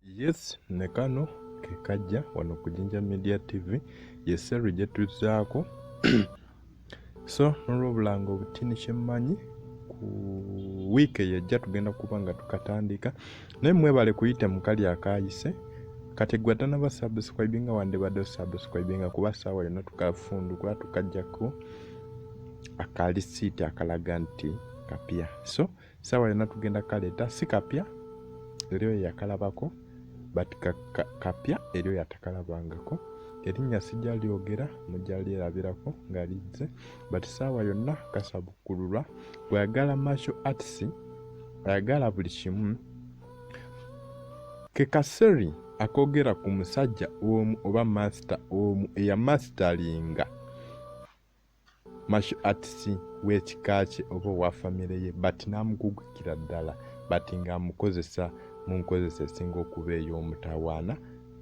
Yes ne kano ke kajja wano ku Jinja Media TV ye series gye tuzzaako so n'olwobulanga obutini kye mmanyi ku wiiki eyo ejja tugenda kuba nga tukatandika naye mwebale kuyita mu kali akaayise kati gwe atanaba subscribe nga wandibadde osubscribe nga kuba saawa yonna tukafundu kuba tukajjako akalisiiti akalaga nti kapya so sawa yona tugenda kaleta si kapya eriyo yakalabako but kapya eriyo yatakalabangako erinnya sijja lyogera mujja lyerabirako nga lizze but saawa yonna kasabukkululwa bweyagala martial arts ayagala buli kimu kekaseri akogera ku musajja omu oba masita omu eya masitalinga masho artist w'ekika kye oba owa famire ye but n'amugugikira ddala but ng'amukozesa mu nkozesa esinga okuba ey'omutawaana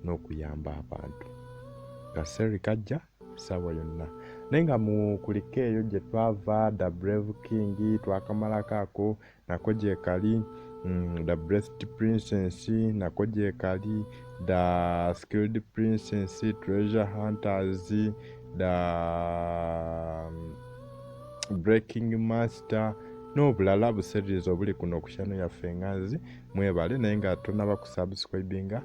n'okuyamba abantu kaseeri kajja ssaawa yonna naye nga mu kulika eyo gye twava the brave king twakamalako ako nako gyekali mm, the breast princess nako gyekali the skilled princess treasure hunters the mm, breaking master n'obulala buseririza obuli kuno okushano yaffe enganzi mwebale naye nga tonaba kusubscribinga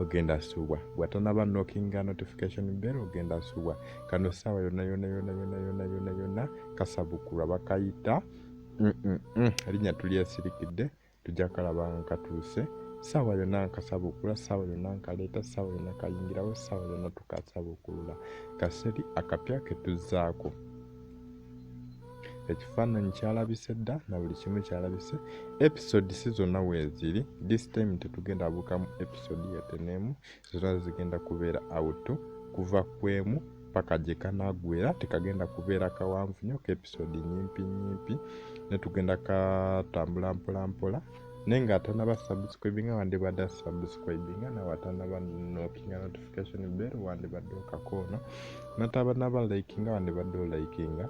ogenda subwa bwatonaba nokinga notification bell ogenda subwa kano saawa yona yona yona yona yona yona yona kasabukulwa bakayita erinnya tulyesirikidde tujja kalaba nga katuuse ssaawa yonna nkasabuukula ssaawa yonna nkaleeta ssaawa yonna kayingirawo ssaawa yonna tukasabuukulula kaseri akapya ketuzzaako ekifaananyi kyalabise dda na buli kimu kyalabise episode si zonna weeziri this time tetugenda buukamu episode yeteneemu zona zigenda kubeera out kuva kwemu paka gye kanagwera tekagenda kubeera kawanvu nyo ka episode nyimpi nyimpi ne tugenda katambula mpola mpola naye nga atanaba subscribinga wandibadde subscribinga nawe atanaba nokinga notification bell wandibadde okakoona natabanaba likinga wandibadde olikinga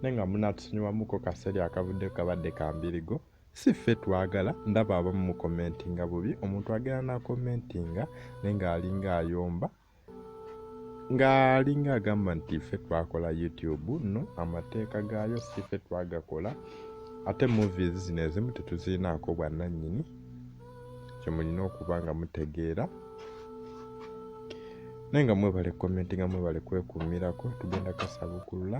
naye nga munatusonyiwamuko kaseeri akavudde kabadde kambirigo si ffe twagala ndaba abamu mu commentinga bubi omuntu agenda na commentinga naye ng'alinga ayomba ng'alinga agamba nti ffe twakola youtube no amateeka gaayo si ffe twagakola ate movies zino ezimu tetuzirinaako bwannannyini kye mulina okuba nga mutegeera naye nga mwebale commentinga mwebale kwekumirako tugenda kasabukulula